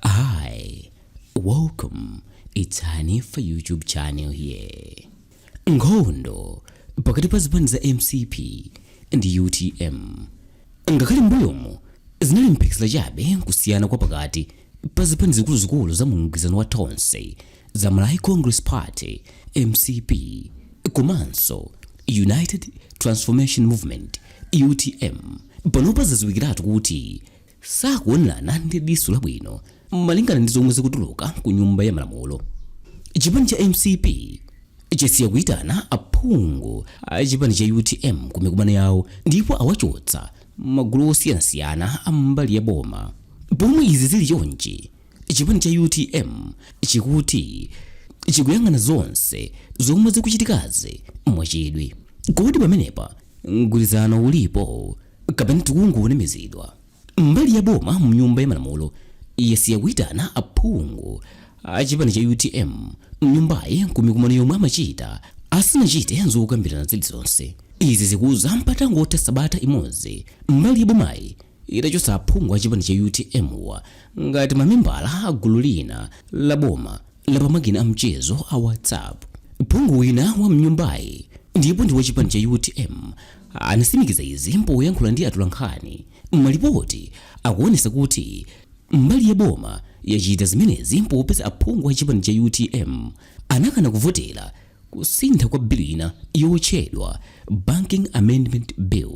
Hi, welcome. It's Hanifa YouTube channel here. Nkhondo pakati pa zipani za mcp ndi utm ngakhale mbuyomo zinali mphekesera chabe kusiyana kwa pakati pa zipani zikuluzikulu za mumgwirizano wa tonse za malawi congress party mcp komanso united transformation movement utm panopa zadziwikiratu kuti sakuonerana ndi diso labwino malingana ndi zomwe zikutuluka ku nyumba ya malamulo chipani cha mcp chasiya kuitana aphungu a chipani cha utm ku mikumano yawo ndipo awachotsa magulu osiyanasiyana a mbali ya boma pomwe izi zili chonchi chipani cha utm chikuti chikuyang'ana zonse zomwe zikuchitikazi mwachidwi kodi pamenepa mgwirizano ulipo kapena tikungonamizidwa mbali ya boma mnyumba ya malamulo yasiya kuitana aphungu a chipani cha utm mnyumbayi kumikumano yomwe amachita asanachite zokambirana zilizonse izi zikuza patangotha sabata imodzi mbali ya bomayi itachotsa aphungu a chipani cha utm wa ngati mamembala a gulu lina la boma la pamakina a mchezo a WhatsApp. Phungu wina wa mnyumbayi ndipo ndi wa chipani cha utm anasimikiza izi poyankhula ndi atolankhani. Malipoti akuonesa kuti mbali ya boma yachita zimenezi popeza aphungu a chipani cha utm anakana kuvotera kusintha kwa bilu ina yotchedwa Banking Amendment Bill.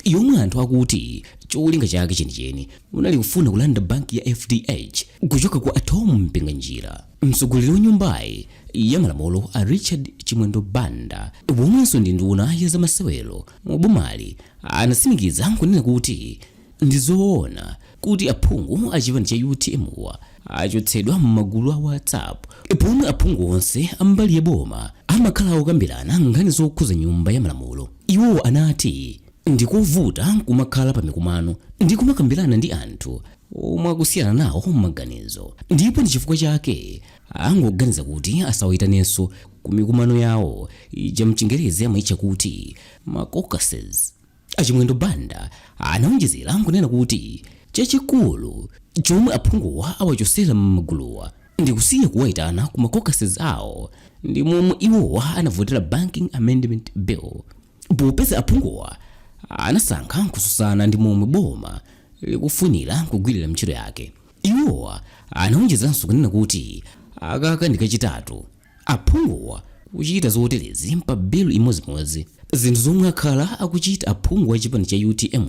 yomwe anthu akuti cholinga chake chenicheni unali kufuna kulanda banki ya fdh kuchoka kwa a Thom Mpinganjira mtsogoleri wa nyumbayi ya malamulo a richard chimwendo banda womwenso ndi nduna ya zamasewero mu bomali anasimikiza nkunena kuti ndi zoona kuti aphungu a chipani cha utm wa achotsedwa m'magulu a whatsapp momwe aphungu onse ambali ya boma amakhala okambirana nkhani zokhuza nyumba ya malamulo iwo anati ndikovuta kumakhala pa mikumano ndi kumakambirana ndi anthu omwe akusiyana nawo maganizo ndipo ndi chifukwa chake angoganiza kuti asawayitanenso ku mikumano yawo ija mchingerezi amayitcha kuti ma caucuses A Chimwendo Banda anaonjezera nkunena kuti chachikulu chomwe aphunguwa awachosera m'maguluwa ndi kusiya kuwaitana ku ma caucuses awo ndi momwe iwowa anavotera Banking Amendment Bill popeza aphunguwa anasankha kususana ndi momwe boma likufunira kugwirira ntchito yake. Iwowa anaonjezanso kunena kuti aka ka ndi kachitatu aphunguwa kuchita zoterezi pa bill imodzimodzi. Zinthu zomwe akhala akuchita aphungu a chipani cha utm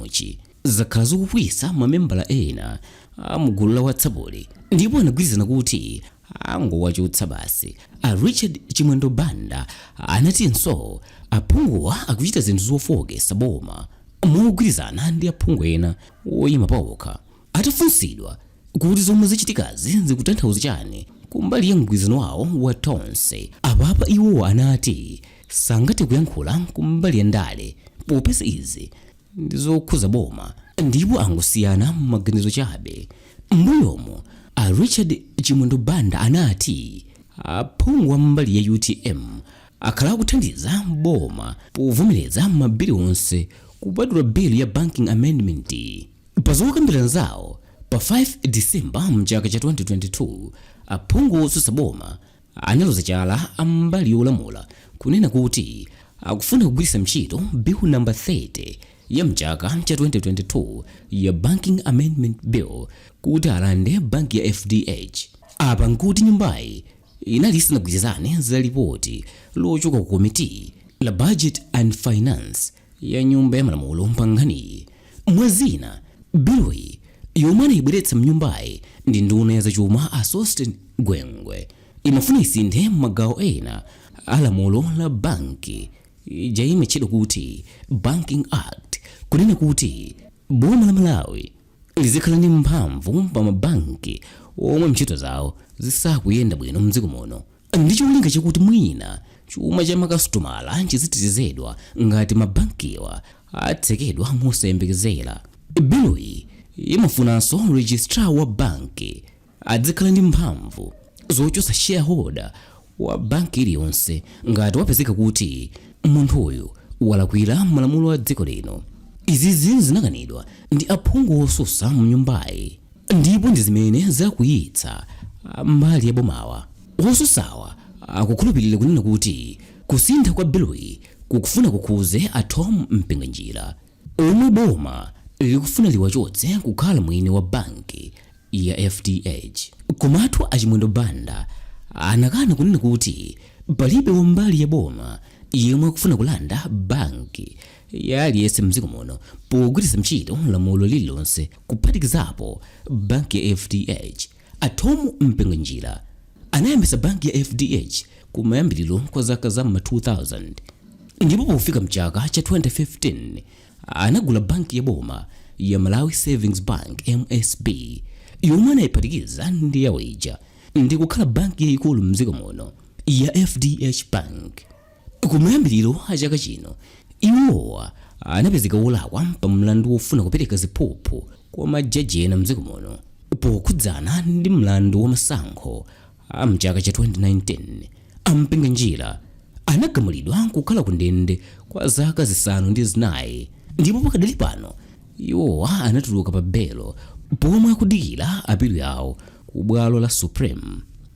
zakhala zikukwiyitsa ma membala ena a mu gulu la WhatsApp-li ndipo anagwirizana kuti angowachotsa basi. A Richard Chimwendo Banda anatinso aphunguwa akuchita zinthu zofooketsa boma mogwirizana ndi aphungu ena oyima paokha. Atafunsidwa kuti zomwe zachitikazi zikutanthauza chani kumbali ya mgwirizano wawo wa Tonse, apapa iwo anati sangathe kuyankhula kumbali ya ndale popeza izi ndi zokhuza boma ndipo angosiyana maganizo chabe. M'mbuyomu, a Richard Chimwendo Banda anati aphungu a mbali ya utm akhala akuthandiza boma povomereza mabili onse kupatula bill ya Banking Amendment. Pa zokambirana zawo pa 5 December mchaka cha 2022, aphungu otsutsa boma analoza chala a mbali yolamula kunena kuti akufuna kugwiritsa ntchito bill number 30 ya mchaka cha 2022 ya Banking Amendment Bill kuti alande banki ya FDH. Apa nkuti nyumbayi inali isanagwirizane za lipoti lochoka ku komiti la Budget and Finance ya nyumba ya malamulo pankhaniyi mwa zina biloyi yomwe anayibweretsa mnyumbayi ndi nduna ya zachuma a sosten gwengwe imafuna isinthe magawo ena a lamulo la banki ija imatchedwa kuti banking act kunena kuti boma la malawi lidzikhala ndi mphamvu pa mabanki omwe ntchito zawo zisakuyenda bwino mdziko muno ndi cholinga chakuti mwina chuma cha makasitomala chizitetezedwa ngati mabankiwa atsekedwa mosayembekezera. Biloyi imafunanso registrar wa banki adzikhala ndi mphamvu zochotsa shareholder wa banki iliyonse ngati wapezeka kuti munthuyo walakwira malamulo a dziko lino. Izizi zinakanidwa ndi aphungu otsutsa mnyumbayi. Ndipo ndi zimene zakwiyitsa a mbali ya bomawa. Otsutsawa akukhulupirira kunena kuti kusintha kwa biluyi kukufuna kukhuze a Thom Mpinganjira omwe boma likufuna liwachotse kukhala mwini wa banki ya FDH. Komatu a Chimwendo Banda anakana kunena kuti palibe wa mbali ya boma yemwe akufuna kulanda banki. ya aliyense mdziko muno pogwiritsa ntchito lamulo lililonse kuphatikizapo banki ya fdh a thom mpinganjira anayambitsa banki ya fdh kumayambiriro kwa zaka za ma 2000 ndipo pofika mchaka cha 2015 anagula banki ya boma ya malawi savings bank msb yomwe anayiphatikiza ndi yawo ija ndi kukhala banki yayikulu mdziko muno ya fdh bank Kumayambiriro a chaka chino, iwowa anapezeka olakwa pa mlandu wofuna kupereka ziphuphu kwa majaji ena m'dziko muno pokhudzana ndi mlandu wa masankho a m'chaka cha 2019. A Mpinganjira anagamulidwa kukhala ku ndende kwa zaka zisanu ndi zinayi ndipo pakadali pano iwowa anatuluka pa belo pomwe akudikira apilo yawo ku bwalo la Supreme.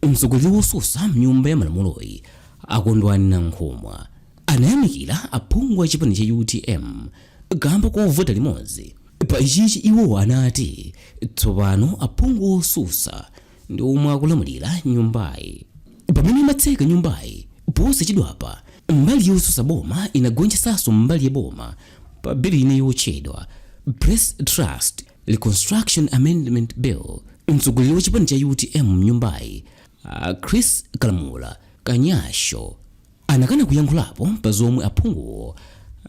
Mtsogoleri wosusa m'nyumba ya malamuloyi, A Kondwani Nankhumwa anayamikira aphungu a chipani cha utm kamba kovota limodzi. Pa ichichi iwo anati tsopano aphungu osusa ndi omwe akulamulira nyumbayi. Pamene imatseka nyumbayi posachedwapa, mbali yosusa boma inagonjetsaso mbali ya boma pa bill ina yotchedwa Press Trust Reconstruction Amendment Bill. Mtsogoleri wa chipani cha utm mnyumbayi A Chrissie Kalamula Kanyasho anakana kuyankhulapo pa zomwe aphunguwo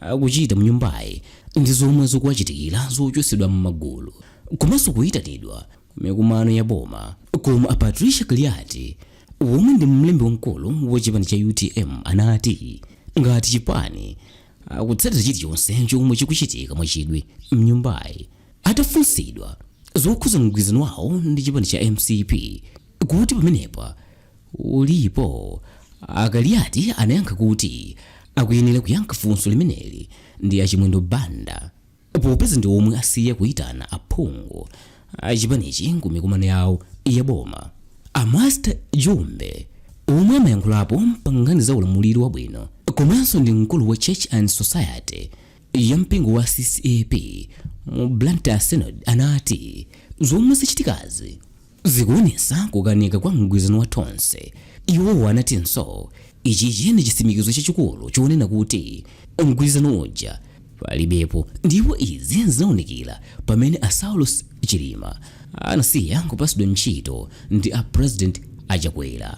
akuchita mnyumbayi ndi zomwe zikuwachitikira zochotsedwa m'magulu komanso kuyitanidwa ku mikumano ya boma. Koma a Patricia Kaliati womwe ndi mlembi wamkulu wa chipani cha utm anati ngati chipani akutsatira chilichonse chomwe chikuchitika mwachidwi mnyumbayi. Atafunsidwa zokhudza mgwirizano wawo ndi chipani cha mcp kuti pamenepa uli pati, a Kaliati anayankha kuti akuyenera kuyankha funso limeneli ndi a Chimwendo Banda popeza ndi omwe asiya kuitana aphungu a chipanichi ku mikumano yawo ya boma. A Master Jumbe omwe amayankhulapo pa nkhani za ulamuliro wabwino komanso ndi mkulu wa Church and Society ya mpingo wa CCAP mu Blantyre Synod anati zomwe zachitikazi zikuonesa kukanika kwa mgwirizano wa Tonse. Iwowo anatinso ichichi ndi chisimikizo chachikulu chonena kuti mgwirizano uja palibepo ndipo izi zinaonekera pamene a Saulos Chilima Anasiya kupasidwa ntchito ndi a president a Chakwera.